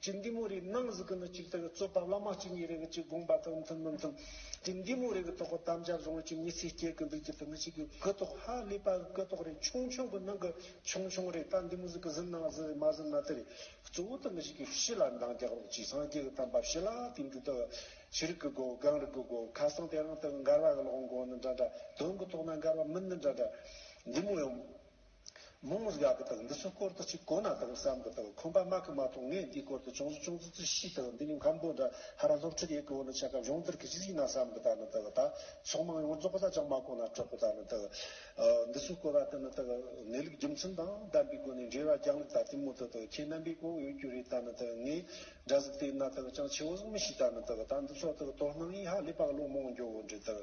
ཅི་འདི་མོ་རིགས་སྣང་གཟུགས་ཀྱི་ནི་གཅིག་དག་རྩོད་པ་བླ་མ་གཅིག་ཉིད་རེ་གི་གཅིག་དགོངས་པ་དག་མཐུན་མི་མཐུན། ཅི་འདི་མོ་རིགས་ཀྱི་དོགས་པ་དམ་བཅའ་བཟུང་བ་གཅིག་ཉིད་ཚེ་སྐྱེལ་གྱི་འདུག་ཅི་དེ་མི་གཅིག་གི་གུ་དོགས་ཧ་ལས་པ་གི་གུ་དོགས་རེད་ཆུང་ཆུང་གི་ནང་གི་ཆུང་ཆུང་རེད་ད་འདི་མོ་གཟུགས་ཀྱི་ཟིན་ན་ཟིན་རེད་མ་ཟིན་ན་དེ་རེད་གཙོ་བོ་དེ་མི་གཅིག་གི་ཕྱི་ལ་འདང་རྒྱག་རོགས་ཀྱིས་སངས་རྒྱས་ཀྱི་དམ་པ་ཕྱི་ལ་དེང་དུས་དག་ཤི་རིགས་ཀྱི་སྒོ་སྒང་རིགས་ཀྱི་སྒོ་ཁ་སང་དེ་རང་དག་མགར་བ་གི་ལོག་མགོ་ནི་འདྲ་འདྲ་དོན་གྱི་ཐོག་ན་མགར་བ་མི་ནི་འདྲ་འདྲ་འདི་མོ་ཡང། མོ་མོ་གཟའ་གི་དང་འདི་ཚོ་སྐོར་དུ་ཅིག་གོ་ན་དང་བསམ་གི་དང་ཁོམ་པ་མ་གི་མ་གཏོགས་ངས་འདིའི་སྐོར་དུ་ཅུང་ཟུ་ཅུང་ཙི་ཙི་ཤི་དང་འདི་ནི་མཁམ་པོ་འདྲ་ཧ་ར་སློབ་ཁྲིད་ཡེ་གི་འོ་ན་ཆ་ག་བྱུང་འདིར་གི་ཅི་ཟིག་ན་བསམ་གི་དང་ནི་དང་ད་ཚོགས་མང་ཡོང་བར་རྫོགས་པ་ས་ཅང་མ་གོ་ན་དྲོག་གི་དང་ནི་དང། འདི་ཚོ་སྐོར་བ་དེ་ནི་དང་གནས་ལུགས་རྒྱུ་མཚན་དང་ལྡན་པའི་སྒོ་ནས་འགྲེལ་བ་རྒྱག་ལུགས་ད་དེ་མོ་དང་དང་ཁྱེད་རྣམ་པས་གོ་འོས་རྒྱུ་རེད་དང་ནི་དང་ངས་སྒྲ་གཟུགས་དེ་ན་དང་ཅང་ཆེ་བོ་གཟུགས་མི་ཤེས་དང་ནི་དང་ད་འདི་ཚོ་དང་དོ་སྣང་ཡིན་ཧ་ལས་པ་གློག་མོང་འགྱོ་འོ་འདྲི་དང་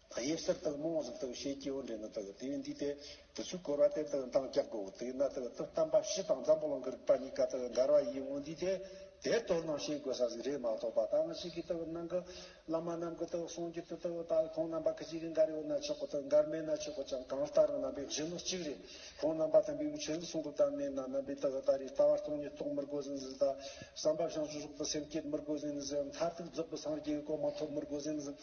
ད་དབྱིབས་གསེར་དང་རྨོངས་གཟུགས་དང་ཤེལ་གྱི་འོད་འདྲེས་ན་དག་དེའི་འདུས་ཏེ། དུས་ཚོད་བསྐོར་བ་སྟེ་དག་མདངས་བཀྱག་གོ། དེས་ན་དག་ཏུ་བལྟམས་པ་བཞི་དང་འཛམ་བུ་གླང་གི་རིག་པ་གཉིས་ཀ་དག་མགར་བ་ཡིན་མངོན་འདུས་ཏེ། དེ་ལྟོས་ན་ཤེས་དགོས་ས་ཟིག་རེད་མ་གཏོགས་པ་ད་ང་ཞིག་གིས་དག་སྣང་གི། བླ་མ་རྣམས་ཀྱི་དག་གསུང་རྒྱུད་དུ་དག་ད་ཁོང་རྣམ་པ་གི་གཅིག་གིས་མགར་ཡོད་ན་ཆོག་གོ་དག་མགར་མེད་ན་ཆོག་གོ་ཅང་གང་ལྟར་རྣམ་པའི་གཞོན་ནུ་གཅིག་རེད། ཁོང་རྣམ་པ་དམ་པའི་དབུ་ཆོས་ལུགས་གསུང་གི་བདག་མེད་ན་རྣམ་པའི་དག་ད་རེས་ལྟ་བ་སྟོང་ཉིད་རྟོགས་མི་དགོས་ཟིན་ཟིན་ད། བསམ་པ་བྱང་ཆུབ་སོགས་དག་སེམས་བསྐྱེད་མི་དགོས་ཟིན་ཟིན་འོ་མཐའ་ཐུག་རྫོགས་པའི་སངས་རྒྱས་ཀྱི་སྐོར་མ་ཐོབ་མི་དགོས་ཟིན་ཟིན།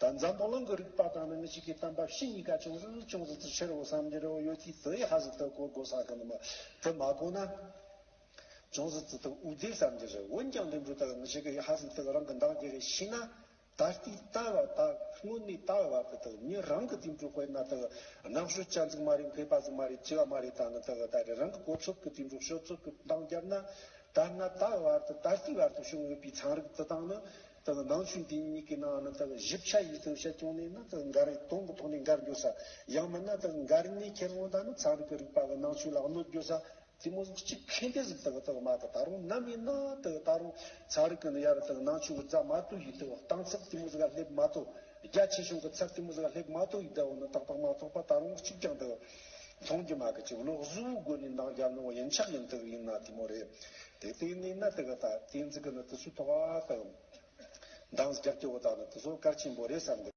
དང་འཛམ་བུ་གླིང་གི་རིག་པ་དང་ནི་མི་གཅིག་གི་གཏམ་པ་བཞི་གཉིས་ཀ་ཅུང་ཟད་ཅུང་ཟད་དུ་ཕྱིར་འོ་བསམ་གྱི་རེ་བ་ཡོད་དུས་དེའི་ཧ་ཟི་ཏི་གོ་གོ་ས་གི་ནི་མ་དེ་མ་གོ་ན། ཅུང་ཟད་དུ་དུ་འུ་བདེ་བསམ་གྱི་རེ་བ་འོན་ཀྱང་དེ་འདྲུ་དག་མི་གཅིག་གི་ཧ་ཟི་ཏི་རང་གི་འདང་གི་རེ་ཤི་ན། ད་ལྟའི་ད་བ་ད་སྔོན་མའི་ད་བ་དེ་དག་ཉིད་རང་གི་དེ་འདྲུ་དཔེར་ན་དག་ནག་ཤོད་ཅག་འཛུག་མ་རེད་འཕེལ་པ་འཛུག་མ་རེད་སྐྱེ་བ་མ་རེད་ད་ནི་དག་ད་རེ་རང་གི་གོ་ཚོད་ཀྱི་དེ་འདྲུ་ཤོད་ཚོད་ཀྱི་འདང་བརྒྱབ་ན། ད་ང་ད་བ་དང་ད་ལྟའི་བར་དུ་བྱུང་ཡོད་པའི་ཚན་རིག་དེ་དག་ནི། དང་ནང་ཆོས་འདི་གཉིས་ཀྱི་ནང་ན་དང་བཞི་བྱ་ཡིས་དང་བྱ་སྐྱོང་ནས་ན་དང་འགར་སྟོང་གི་ཐོག་ནས་འགར་འགྱོ་ས། ཡང་མིན་ན་དང་འགར་ནས་ཁེར་དབང་དང་ནི་ཚངས་རིས་ཀྱི་རིགས་པ་གི་ནང་ཆོས་ལ་གནོད་འགྱོ་ས། དེ་མོ་གཟུགས་གཅིག་གྷན་དྷའི་གཟུགས་དང་དང་མ་དང་ད་རུང་ནམ་ཡིན་ན་དང་ད་རུང་ཚངས་རིས་ཀྱི་ནི་ཡར་དང་ནང་ཆོས་ཀྱི་རྫ་མ་དུ་ཡིས་དང་སྟང་ཚབ་དེ་མོ་གཟུགས་ཀ་ལྷེབ་མ་དོ། རྒྱ་ཆེ་ཆུང་གི་ཚབ་དེ་མོ་གཟུགས་ཀ་ལྷེབ་མ་དོ་ཡིས་དང་བོ་ནི་ཏག་ཏག་མ་ཐོག་པ་ད་རུང་གཅིག་ཀྱང་དང། མཐོང་རྒྱུ་མ་གི་ཅིག་ལོག་གཟུ་བོའི་སྒོ་ནས་འདང་རྒྱག་ནོ་ཡིན་ཆགས་ཡིན་དག་ཡིན་ན་དེ་མོ་རེད་དེ་ལྟའི་གནས་ན་དེ་ག་དག་གཏན་ཚིག་གི་ནི་དེ་སུ་དོག་བ་དང། འདང་རྒྱག་སྐྱེ་བོ་དག་ནི་དེ་སོགས་གར་ཆེན་པོ་རེད་བསམ་དགོས།